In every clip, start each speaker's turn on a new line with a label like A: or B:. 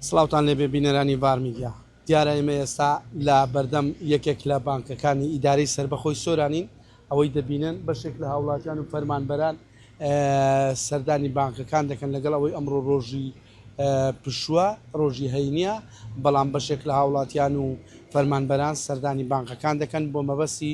A: سڵاوتان لێبێ بینەرانی ڤار میدیا. دیارە ئێمە ئێستا لە بەردەم یەکێک لە بانکەکانی ئیدارەی سەربەخۆی سۆرانین، ئەوەی دەبینن بەشێک لە هاوڵاتیان و فەرمانبەران سەردانی بانکەکان دەکەن، لەگەڵ ئەوەی ئەمڕۆ رۆژی پشووە، رۆژی هەینییە، بەڵام بەشێک لە هاوڵاتیان و فەرمانبەران سەردانی بانکەکان دەکەن بۆ مەبەستی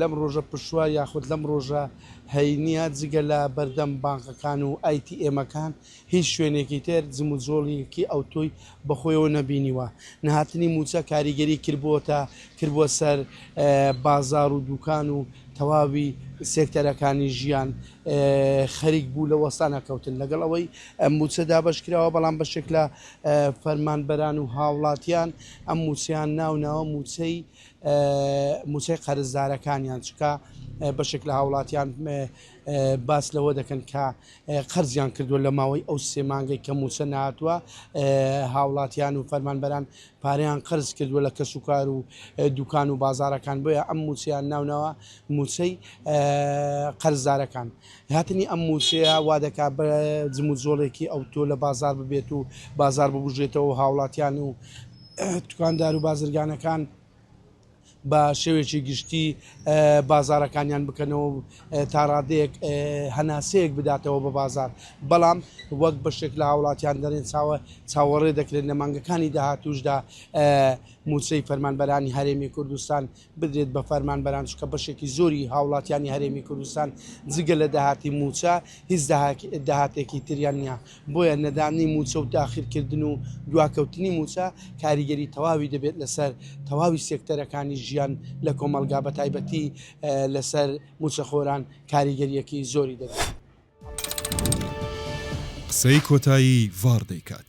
A: لەم ڕۆژە پشووە یاخود لەم ڕۆژە هەینییە جگە لە بەردەم بانقەکان و ئای تی ئێمەکان هیچ شوێنێکی تر جموجۆڵیکی ئەوتۆی بەخۆیەوە نەبینیوە. نەهاتنی مووچە کاریگەری کردبووەتە کردبووە سەر بازار و دووکان و تەواوی سێکتەرەکانی ژیان خەریک بوو لە وەستانە کەوتن. لەگەڵ ئەوەی ئەم مووچە دابەش کراوە بەڵام بەشێک لە فەرمانبەران و هاوڵاتیان ئەم مووچەیان ناوناوە مووچەی موچەی قەرزدارەکانیان چونکە بەشێک لە هاوڵاتیان باس لەوە دەکەن کە قەرزیان کردووە لە ماوەی ئەو سێ مانگەی کە موچە ناتوە هاوڵاتیان و فەرمانبەران پاریان قەرز کردووە لە کەس و کار و دوکان و بازارەکان بۆیە ئەم موچیان ناونەوە موچەی قەرزدارەکان هاتنی ئەم موچەیە وا دەکات بە جموجۆڵێکی ئەو تۆ لە بازار ببێت و بازار ببژێتەوە هاوڵاتیان و دوکاندار و بازرگانەکان بە شێوێکی گشتی بازارەکانیان بکەنەوە تا ڕادەیەک هەناسەیەک بداتەوە بە بازار بەڵام وەک بەشێک لە هاوڵاتیان دەرێن چاوە چاوەڕێ دەکرێن لە مانگەکانی داهاتوشدا موچەی فەرمانبەرانی هەرێمی کوردستان بدرێت بە فەرمانبەران، چونکە بەشێکی زۆری هاوڵاتیانی هەرێمی کوردستان جگە لە داهاتی مووچە هیچ داهاتێکی تریان نییە، بۆیە نەدانی مووچە و تاخیرکردن و دواکەوتنی مووچە کاریگەری تەواوی دەبێت لەسەر تەواوی سێکتەرەکانی ژیان لە کۆمەڵگا بەتایبەتی لەسەر مووچەخۆران کاریگەریەکی
B: زۆری دەبێت. قسەی کۆتایی
A: ڤاڕ
B: دەیکات.